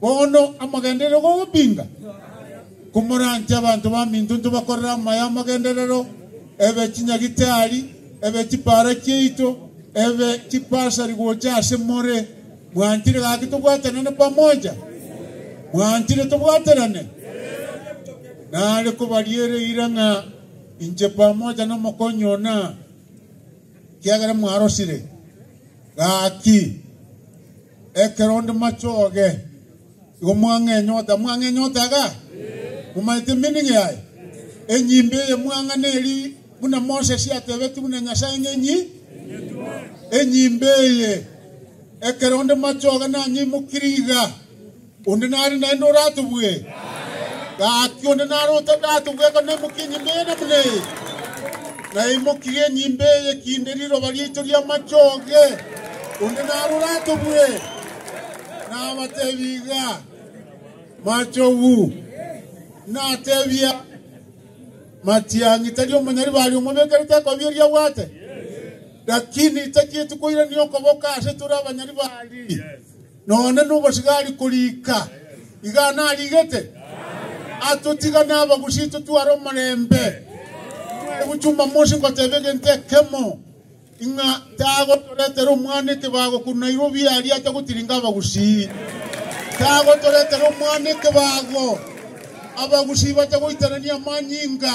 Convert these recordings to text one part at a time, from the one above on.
Bono amogenderere gogopinga, komoranche abanto baminto ntobakorere amaya amagenderero, ebe chinyagitari, ebe chipaara chiaito, ebe chipasari gocha ase more. Mwanchire gaki tobwatanane pamoja? Mwanchire tobwaterane? Nare kobariera eira ng'a inche pamoja nomokonyi ona, kiagera mwarosire gaki. Ekero onde machoge, igo mwang'enyota. Mwang'enyota iga? Momanyete meaning yaye? Enyimbe eye mwang'ana eri buna Moses atebetie buna Nyasae ng'a enyi enyimbe eye. Ekero onde machoge nanyeimokirie iga. Onde nare naende oratubwe? Gaki onde nare otadatubwe akanaimokia enyimbe eye namuna eye? Naimokirie enyimbe eye kinde riroba riaito ri'amachoge. Onde nare oratubwe? Nabateebie iga, Machogu, nateebia, Matiang'i tari omonyari baria omobekerete ekobi eria abwate? Lakini tachieti koirania okoboko ase tore abanyari baria. Nonye nobosigari korika, iga narigete, atotiga nabagusi totware omorembe. Egu Jumamosi ngoteba egento ekemo, ing'a tagotoretera omwana ekebago korwa Nairobi aria atagotiringa abagusi. Tagotoretera omwana ekebago abagusi batagoitanania amanyinga.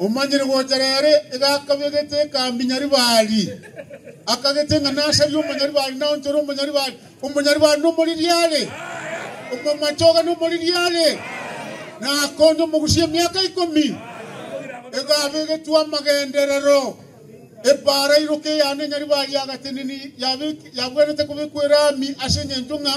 Omanyire gocha reere iga akabegete ekambi-nyaribari, akagete ng'a nasarie omonyaribari naonchore omonyaribari. Omonyaribari nomoririare, omomache oga nomoririare, na akonye omogusia emiaka ikomi. Iga abegetwe amagenderero, epaara iroka eyane nyaribari ya gateneni yabek- yabwenerete kobekwa eraami ase engencho ng'a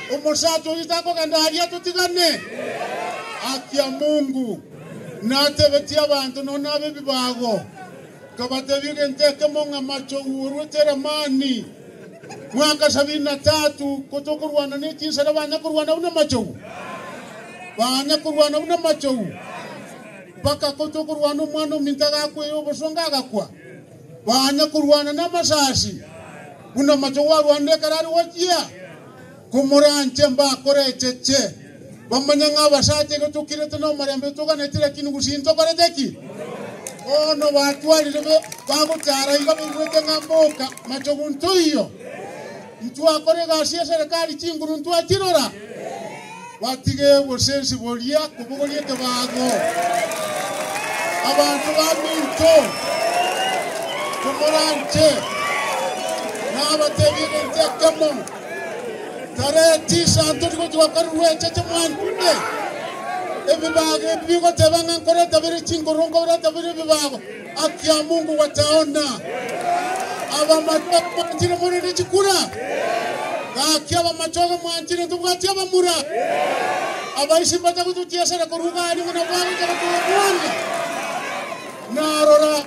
Omosacha oyio takogenda aria totigane Akiamungu. Natebetie abanto nonya ab'ebibago, nkabatebia egento ekemo ng'a Machogu orwete Lamani mwaka sabini na tatu, ko tokorwana ne chinsera banya korwana buna Machogu, banya korwana buna Machogu, mpaka ko tokorwana omwana ominto agakwea obosongo agakwa. Banga korwana namasasi, buna omochie gwarwanda ekero are gochia komorancha. Mbakorecheche bamanye ng'a abasacha igo tokirete nomorembe totoganeti, lakini gusii ntokorete ki? Bono batwarire be bagochara iga baigwete ng'a mboka machogu ntoiyo. Ntwakora egasi y'eserekari chinguru ntwachirora, batiga obosensi boria kobogoria ekebago. Abanto baminto, komoranche, nabatebie egento ekemo, Tarehe tisa ntoti gochia gokora rweche chimwanchune. Ebibago ebi bigoteba ng'a nkoreta bire chinguru, nkoreta bire ebibago. Akia Mungu gwataona abamatwa mwanchire morende chikura, na akia abamatwaga mwanchire ntobwati abamura. Abaisi mbatagotochiesera korwa iga aria buna bwagokera kobwana. Na rora,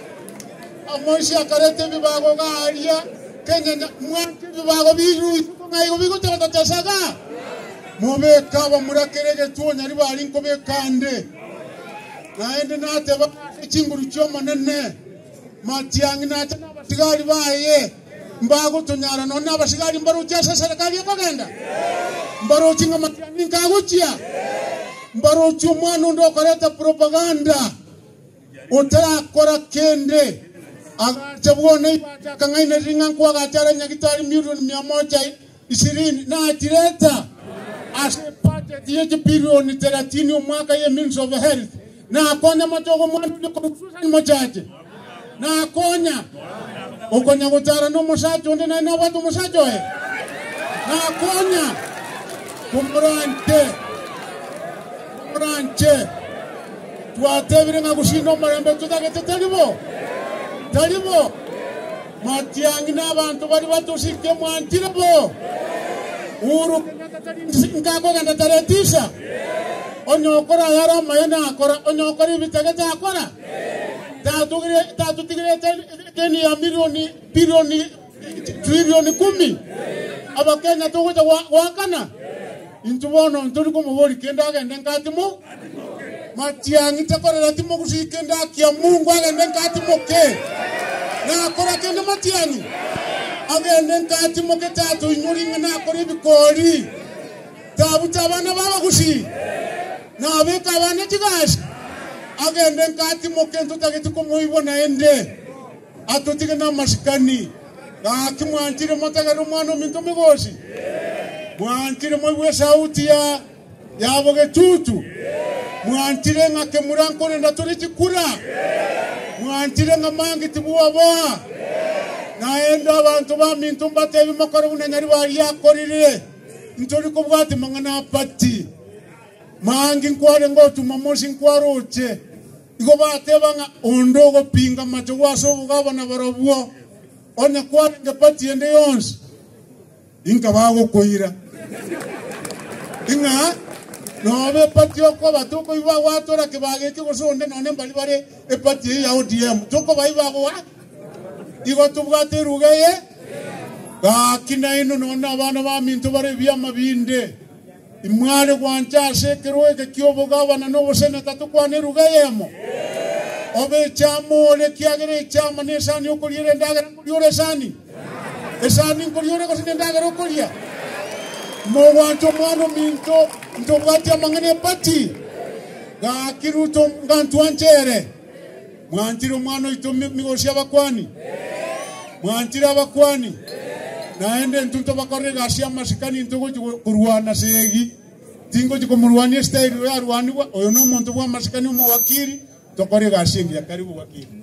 amoisi akareta ebibago iga aria, kenyanya mwanche ebibago biruite buna igo bigotesaga. Mobeke abamura kera egetuo nyaribari nkobeka nde. Naende nateba ase chinguru chi'Omonene, Matiang'i nache nabatigari baye mbagotonyara nonya abasigari mbarochie ase eserekari ekogenda? Mbarochie ng'a Matiang'i inka agochia? Mbarochie omwana onde okoreta propaganda otarakora kende agacha bwona igo ache akang'ainereria ng'a nkwagacha are nyagitari milioni mia mocha Ishirini na chireta ase ebajeti y'echipirioni thelathini omwaka ye Ministry of Health. Nakonya amatogo omwana oria korwa Susan Mochache. Nakonya. Okonya gotarana omosacha onde naye nabwate omosacha oye. Nakonya. Komoranche. Komoranche. Twatebire ng'a gosinda omorembe totagete tari bo. Tari bo. Matiang'i nabanto baria batosikia mwanchire bo uru konya gatari nsinka kogenda taretisa. Onye okora ayare amayene akora, onye okora ebitagete akora. Tatugire tatutigirete deni ya milioni bilioni trilioni kumi. Abakenya togocha gwa- gwakana. Intwe bono ntori komoboria kende agende nka atimoke. Matiang'i takorera atimoke gose kende akia Mungu agende nka atimoke. Nakora kende matiang'i agende nka atimoke tato inywe ring'ana nakora ebikori. Tabuta abana b'abagusi nabeka abana chigasi agende nka atimoke ntotagete komoibwa naende. Atotige namasikani. Gaki mwanchire motagere Omwana-o-minto omogosi? Mwanchire moigwe esauti ya yabo getutu? Mwanchire ng'a kemura nkorenda tore chikura? Mwanchire ng'a mangi tibwaboa? Naende abanto baminto mbatebie mokore buna Nyaribari akorire, Ntori kobwati mang'ana apati. Mangi nkwarenge otuma mosi nkwaroche. Igo bateba ng'a, Onde ogopinga amachogwa ase obogabana barobwo, onye kwarenge pati ende yonsi, inka bagokoira, ng'a nobe epati okoba tokoiba gwatora kebaga ekio gose onde nonye mbari bare epati eye ya ODM tokobaiba gwa Igo tobwate eruga eye gaki naino nonye abana baminto bare ebiama binde. Imware gwancha ase ekerogo eke ki'obogabana na oboseneta tokwane eruga eyemo? Obe echaama ore, ekiagera echaama nesani okoria ere endagera nkoria ore esani? Esani nkoria ore gose nendagera okoria? Mogwancha Omwana-o-minto ntobwati amang'ana epati? Gaki Ruto, ngantwanche ere. Mwanchire omwana oito migoro y'abakuani? Mwanchire abakuani? Naende intwe intwe abakorera egasi y'amasikani intwe gochi korwana ase egi. Tingochi komorwania esitairi oyo arwanigwa, oyo nomonto bw'amasikani omowakiri, tokore egasi engiya kare y'obowakiri.